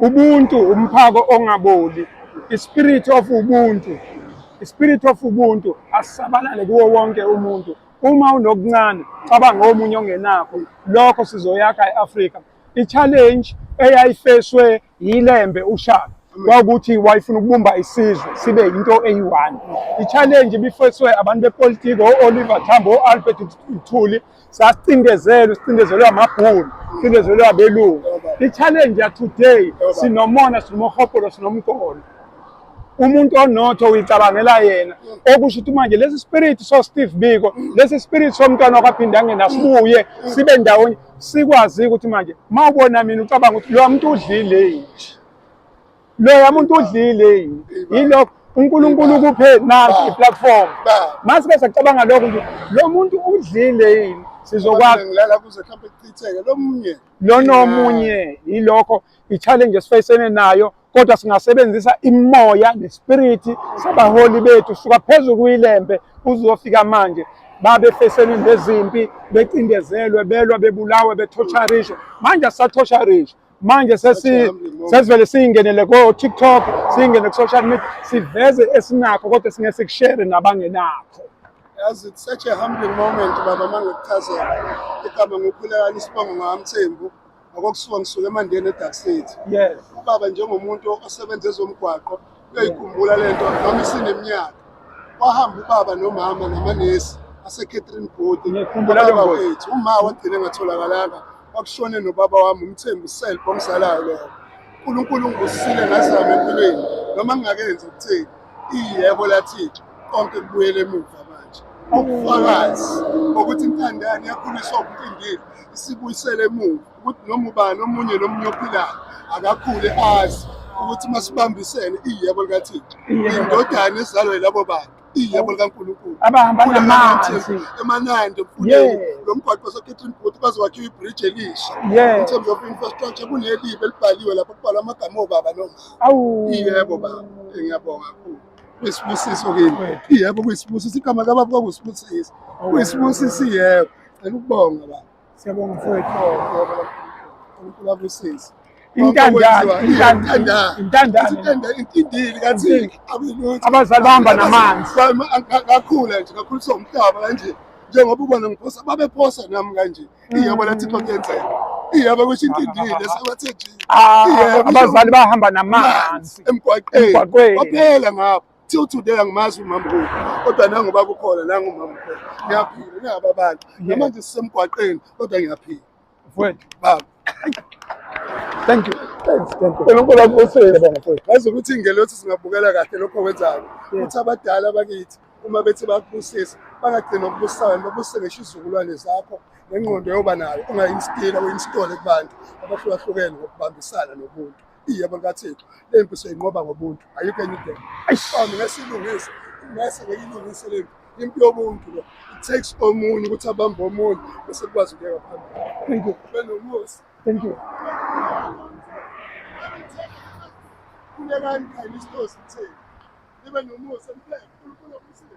Ubuntu umphako ongaboli, ispirit of ubuntu, ispirit of ubuntu asisabalale kuwo wonke umuntu. Uma unokuncane cabanga omunye ongenakho, lokho sizoyakha i-Afrika. I-challenge eyayifeswe yilembe uShaka kwakuthi wayefuna ukubumba isizwe sibe yinto eyi-one. I-challenge ibifeswe abantu bepolitiki o-Oliver Tambo, o-Albert Thuli sasicindezelwe sicindezelwe amabhulu sicindezelwe abelungu i-challenge yatoday sinomona sinomhopolo sinomgolo umuntu onotho uyicabangela yena okusho ukuthi manje lesi spirit so-steve biko lesi spirit somntwana wakwaphinde angena sibuye sibe ndawonye sikwazi ukuthi manje ma ubona mina ucabanga ukuthi lo muntu udlile yini loya muntu udlile yilokho uNkulunkulu kuphe nansi iplatform masike sacabanga lokho nje lo muntu udlile yini sizokwakha ngilala kuze mhlawumbe kuchitheke lo munye lona omunye yilokho i-challenge esifayisene nayo kodwa singasebenzisa imoya nespiriti sabaholi bethu suka phezulu kuyilembe kuzofika manje babefesene nezimpi becindezelwe belwa bebulawe bethosharishwe manje asisathosharishi manje sesivele siyingenele ko-tiktok siyingene ku-social media siveze esinakho kodwa singeke sikushere nabangenakho yazi it's such a humbling moment baba uma ngikuchazela igama ngokhulekani isibongo ngakamthembu ngokokusuka ngisuke emandeni edark city yes ubaba njengomuntu osebenza ezomgwaqo Uyayikhumbula le nto noma isineminyaka kwahamba ubaba nomama namanesi aseCatherine Body ubaba wethu uma wagcine engatholakalanga kwakushone nobaba wami umthembu self omsalayo loyo uNkulunkulu ungibusisile ngazama empilweni noma ngingakenzi ukuthini iyebo lathixo konke kubuyele emuva manje ubufakazi ukuthi intandane yakhuliswa ubutindile isibuyisele emuva ukuthi noma ubani omunye nomunye ophilayo akakhule azi ukuthi masibambisene iyebo likathixo indodana ezalwe labo bantu iyebo likankulunkulu abahamba namanzi emanandi emfuleni lo mgwaqo osekhetrini bhuti baze wakhiwa ibridge elisha in terms of infrastructure kunelibe elibhaliwe lapho kubhalwa amagama obaba noma iyebo baba ngiyabonga kakhulu kwisibusiso kini iyebo kwisibusiso igama kababa kwakusibusiso kwisibusiso iyebo ngicela ukubonga baba Siyabonga mfowethu uNkulunkulu akusize. Intandane, intandane, intandane. Intandane intindile kathini akulutho. Abazali bahamba namanzi. Kakhula nje kakhulu somhlaba kanje. Njengoba ubona ngiphosa babephosa nami kanje. Iyabo lathi xa kuyenzeka. Iyabo kusho intindile sabathe nje. Abazali bahamba namanzi emgwaqeni. Kwaphela ngapho. till today angimazi umama kuyo kodwa nangoba kukhona nangu umama kukhona ngiyaphila ningaba abantu namanje sisemgwaqeni kodwa ngiyaphila mfowethu baba thank you uNkulunkulu mfowethu ngazi ukuthi ingelothi singabukela kahle lokho kwenzayo ukuthi abadala bakithi uma bethi bakubusisa bangagcina ukubusayo nobuse ngisho izizukulwane zakho nengqondo yoba nayo ungayinsitila uyinstole kubantu abahlukahlukene ngokubambisana nobuntu Yebo likaThixo, le mpi siyayinqoba ngobuntu, ayikho enye indlela. Ayifani ngesilungiso, mese ngiyilungise le mpi. Impi yobuntu lo, it takes omunye ukuthi abambe omunye bese kukwazi ukuyeka phambili. Thank you. Benomusa. Thank you. Kulekani khayini isitosi kutheni. Nibe nomusa, nipheke, uNkulunkulu akusile.